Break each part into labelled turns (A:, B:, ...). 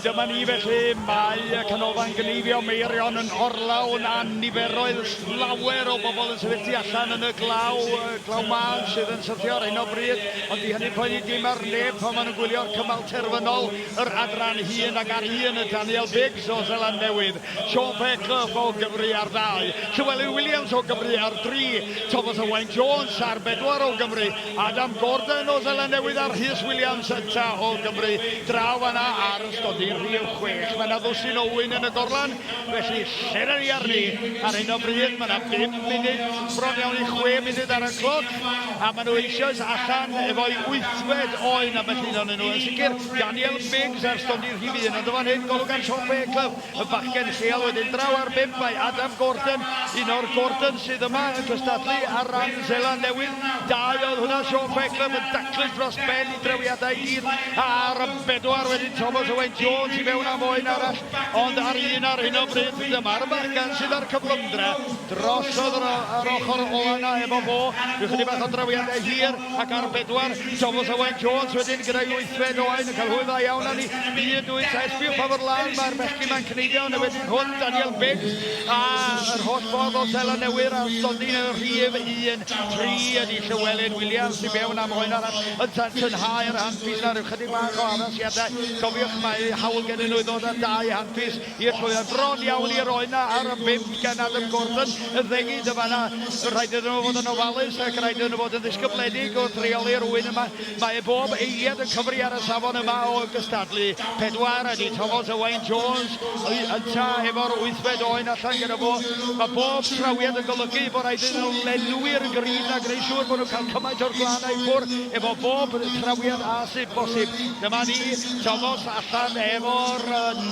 A: Dyma ni felly, mae y canolfan gneifio Meirion yn orlawn a niferoedd llawer o bobl yn sefyll tu allan yn y glaw, glaw mân sydd yn syrthio ar hyn o bryd, ond di hynny poeni dim ar neb pan maen nhw'n gwylio'r cymal terfynol, yr adran hun ac ar un y Daniel Biggs o Zeland Newydd. Sean Fairclough o Gymru ar ddau, Llewelyn Williams o Gymru ar dri, Thomas Owain Jones ar bedwar o Gymru, Adam Gordon o Seland Newydd a Rhys Williams eto o Gymru draw fan'na ar ystodi rhif chwech. Mae 'na ddwsin o ŵyn yn y gorlan, felly lle 'da ni arni ar hyn o bryd? Mae 'na bum munud, bron iawn i chwe munud ar y cloc, a maen nhw eisoes allan efo'u wythfed oen, ambell un ohonyn nhw yn sicr. Daniel Biggs ar stondin rhif un, ond yn fan hyn golwg ar Sean Fairclough, y bachgen lleol wedyn. Draw ar bump mae Adam Gordon, un o'r Gordons sydd yma yn cystadlu ar ran Seland Newydd. Dau oedd hwnna, Sean Fairclough yn daclus dros ben i drewiadau i gyd, a ar y bedwar wedyn Thomas Owain Jones i mewn am oen arall, ond ar un ar hyn o bryd dyma'r bachgen sydd â'r cyflymdra. Drosodd ar ochr ola' 'na efo fo, ryw chydig bach o drewiadau hir. Ac ar bedwar, Thomas Owen Jones wedyn gyda'i wythfed. Owen yn cael hwyl dda iawn arni. Un, dwy, tair, sbïwch pa mor lân mae'r bechgyn ma'n cneifio yn y wedyn hwn. Daniel Biggs a yr holl ffordd o Seland Newydd a stondin yn rhif un. Tri ydi Llywelyn Williams i mewn am oen arall yn tensiynnhau'r hanfis 'na. Rhyw chydig bach o addasiadau. Cofiwch mae hawl gennyn nhw i ddod â dau hanfis. I'r llwyddiant bron iawn i'r oen ar y bum gan Adam Gordon yn ddengyd yn fanna. Rhaid iddyn nhw fod yn ofalus ac rhaid iddyn nhw fod yn ddisgybledig wrth reoli'r ŵyn yma. Mae bob eiliad yn cyfri ar y safon yma o gystadlu. Pedwar ydy Thomas Owain Jones ynta efo'r wythfed oen allan gyda fo. Mae bob trawiad yn golygu bod rhaid iddyn nhw lenwi'r grid a gwneud siŵr bod nhw'n cael cymaint o'r glannau ffwr efo bob trawiad a sydd bosib. Dyma ni, Thomas allan efo'r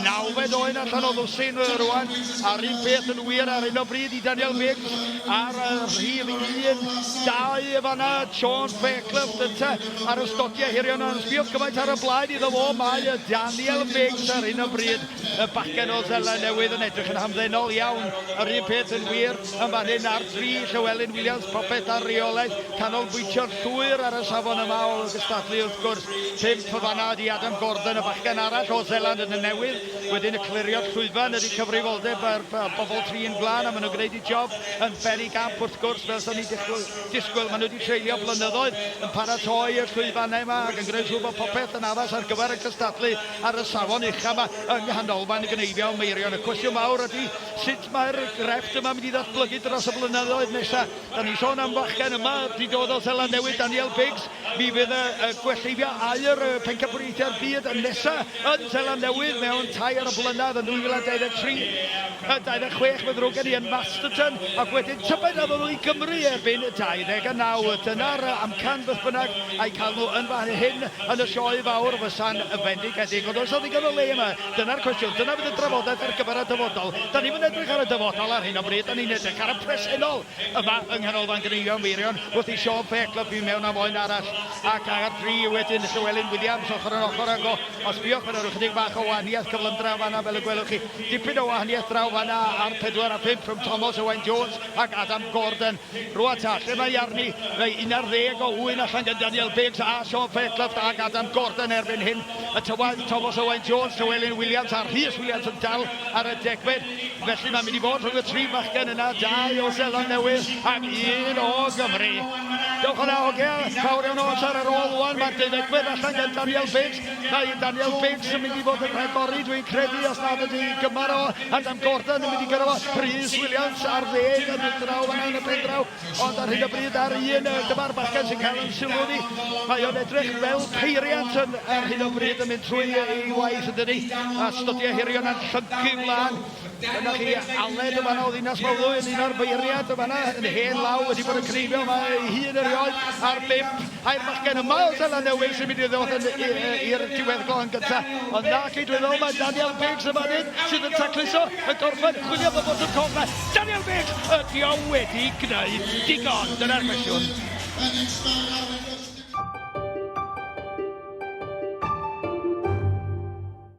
A: nawfed oen allan o ddwsin rwan a'r un peth yn wir ar hyn o bryd i Daniel Biggs ar y rhif 1 dau y fanna Sean Fairclough dynta ar y stotiau hirion a'n sbiodd gymaint ar y blaen iddo fo mae y Daniel Biggs ar hyn o bryd y bacen o Zela newydd yn edrych yn hamddenol iawn yr un peth yn wir Yn fan hyn ar dri, Llywelyn Williams, Proffet a Rheolaeth, canolbwyntio'n llwyr ar y safon yma o gystadlu wrth gwrs. Pump o fan'na ydi Adam Gordon, y bachgen arall o Zeland yn y newydd. Wedyn y clirio'r llwyfan ydi cyfrifoldeb yr bobl tri yn glân a ma' nhw'n gneud y job yn beri gamp wrth gwrs fel so ni'n disgwyl disgwyl. Ma' nhw wedi treulio blynyddoedd yn paratoi y llwyfannau yma ac yn gneud siŵr bod popeth yn addas ar gyfer y cystadlu ar y safon ucha 'ma yng Nghanolfan Gneifion Meirion. Y cwestiwn mawr ydi Sut mae'r grefft yma mynd i ddatblygu dros y blynyddoedd nesaf? Da ni'n sôn am fachgen yma, di dod o Seland Newydd, Danielle Biggs. Mi fydd y, y gwellteifio aur y pencampwriaethau'r byd yn nesa yn Seland Newydd mewn tair blynedd yn 2023. Y 26 fe ddrwg gen i yn Masterton ac wedyn tybed a ddod i Gymru erbyn y 29. Dyna'r amcan beth bynnag a'i cael nhw yn fan hyn yn y sioe fawr fysa'n fendigedig. Ond oes 'na ddigon o le yma? Dyna'r cwestiwn. Dyna fydd y drafodaeth ar gyfer y dyfodol. Da ni'm yn edrych ar y dyfodol ar hyn o bryd, da ni'n edrych ar y presennol yma yng Nghanolfan Gyneuon Meirion, wrth i Sean Fair glybu mewn am oen arall, ac ar dri wedyn Llewelyn Williams ochr yn ochr ag o. Os sbiwch, mae 'na ryw chydig bach o wahaniaeth cyflymdra fan'na, fel y gwelwch chi. Dipyn o wahaniaeth draw fan'na ar pedwar a phump rhwng Tomos Owain Jones ac Adam Gordon. Rwan ta, lle mae arni? Mae 11 o Owen allan gan Daniel Biggs a Sean Fairclough ac Adam Gordon erbyn hyn. Y tywadd Thomas Owen Jones, Llewelyn Williams a Rhys Williams yn dal ar y degfed. Felly mae'n mynd i fod rhwng y tri fachgen yna, dau o Seland Newydd ac un o Gymru. Dewch yna, hogia, fawr iawn o amser ar ôl rwan, mae'r deuddegfed allan gan Daniel Biggs. Mae Daniel Binch yn mynd i fod yn rhagori, dwi'n credu, os nad ydy gymar o Adam Gordon yn mynd i gyrra fo. Rhys Williams ar ddeg yn y draw fanna yn y pen draw, ond ar hyn o bryd ar un y dyma'r bachgen sy'n cael yn sylw ni. Mae o'n edrych fel peiriant yn, ar hyn o bryd yn mynd trwy ei waith yn dydi, a stydiau hirion a'n llyncu mlaen. Dyna chi Aled yn fanna o ddinas Mawddwy yn un o'r beiriad yn fanna yn hen law wedi bod yn cneifio yma ei hun erioed a'r bum air bachgen yma o Sela Newydd sy'n mynd i ddod yn i'r diweddglo yn gyntaf. Ond na chi dwi'n meddwl mae Daniel Biggs yn fan hyn sydd yn tacluso y gorffen chwilio bod bod yn coffa. Daniel Biggs ydi o wedi gwneud digon. Dyna'r cwestiwn.